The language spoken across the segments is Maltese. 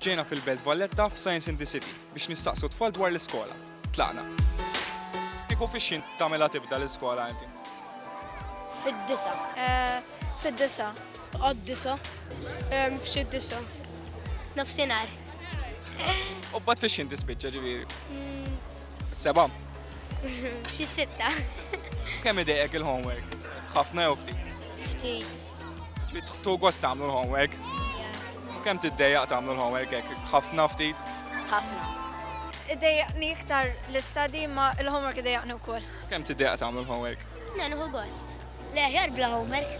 Ġejna fil-Belt Valletta f'Science in the City biex nistaqsu t-tfal dwar l-iskola. Tlaqna. Kieku fix-xhien tagħmilha tibda l-iskola inti? Fid-disa'. Fid-disa'. Għad-disa'. F'xi disa'. Nofsinhar. U mbagħad fix-xhien tispiċċa ġifieri? Seba. Xi sitta. Kemm idejqek il-homework? Ħafna jew ftit? Ftit. Ġbit tu gost tagħmlu l-homework? U kemm tiddejjaq tagħmlu l-homework hekk? Ħafna ftit? Ħafna. Idejjaqni iktar l-istadi ma l-homework idejjaqni wkoll. Kemm tiddejjaq tagħmlu l-homework? Nenħu gost. Le aħjar bla homework.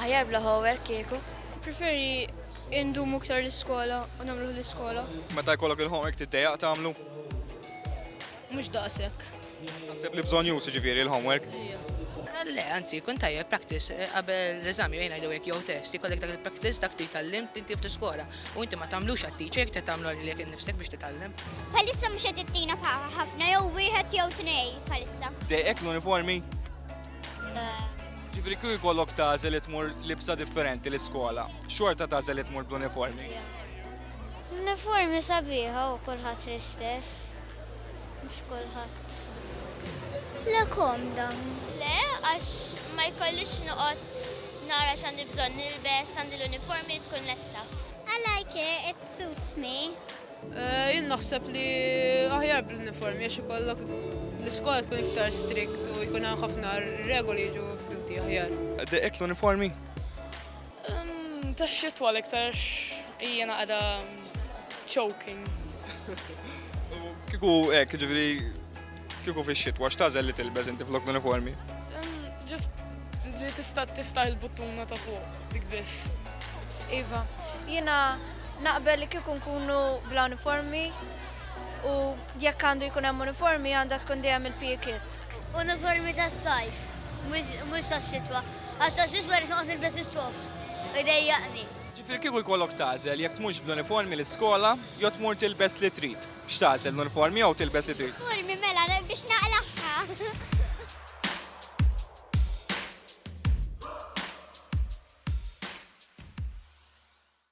Aħjar bla homework kieku. Preferi indumu iktar l-iskola u nagħmlu l-iskola. Meta jkollok il-homework tiddejjaq tagħmlu? Mhux daqshekk. Naħseb li bżonn jusi ġifieri l-homework. Le, anzi, kun tajjeb practice eh, qabel l-eżami jgħin għajdu jek jew test, jkollek dak il-practice dak li tal-lim tinti f'tiskola. U inti ma tamlux għat-teacher, te tamlu li jek nifsek biex titallem. Palissa mux għed it-tina ħafna, jew wieħed jew tnej palissa. Dejek l-uniformi? Ġifri kuj kollok tażel li tmur libsa differenti l-iskola, xorta tażel li tmur bl-uniformi. L-uniformi sabiħa u kulħadd l-istess. Mhux kulħadd. Le komda. Le, għax ma jkollix noqgħod nara x'għandi bżonn nilbes, għandi l-uniformi tkun lesta. I like it, it suits me. Jien naħseb li aħjar bl-uniformi għax ikollok l-iskola tkun iktar strict u jkun hemm ħafna regoli jiġu mdumti aħjar. Dehqek l-uniformi? Tax-xitwa l-iktar għax hija naqra choking. U kieku hekk, ġifieri kieku fix-xitwa x'tagħżel li tilbeż inti flok l-uniformi? Ġust li tista' tiftaħ il-buttuna ta' fuq dik biss. Iva, jiena naqbel li kieku nkunu bla uniformi u jekk għandu jkun hemm uniformi għandha tkun dejjem il-PE kit. Uniformi tas-sajf, mhux tax-xitwa. Għax ta' xiex wara noqgħod nilbes iċ-ċoff u jdejjaqni. Ġifieri kieku jkollok tagħżel jekk tmurx bl-uniformi l-iskola jew tmur tilbes li trid, x'tagħżel l-uniformi jew tilbes li trid? L-uniformi mela biex naqlagħha.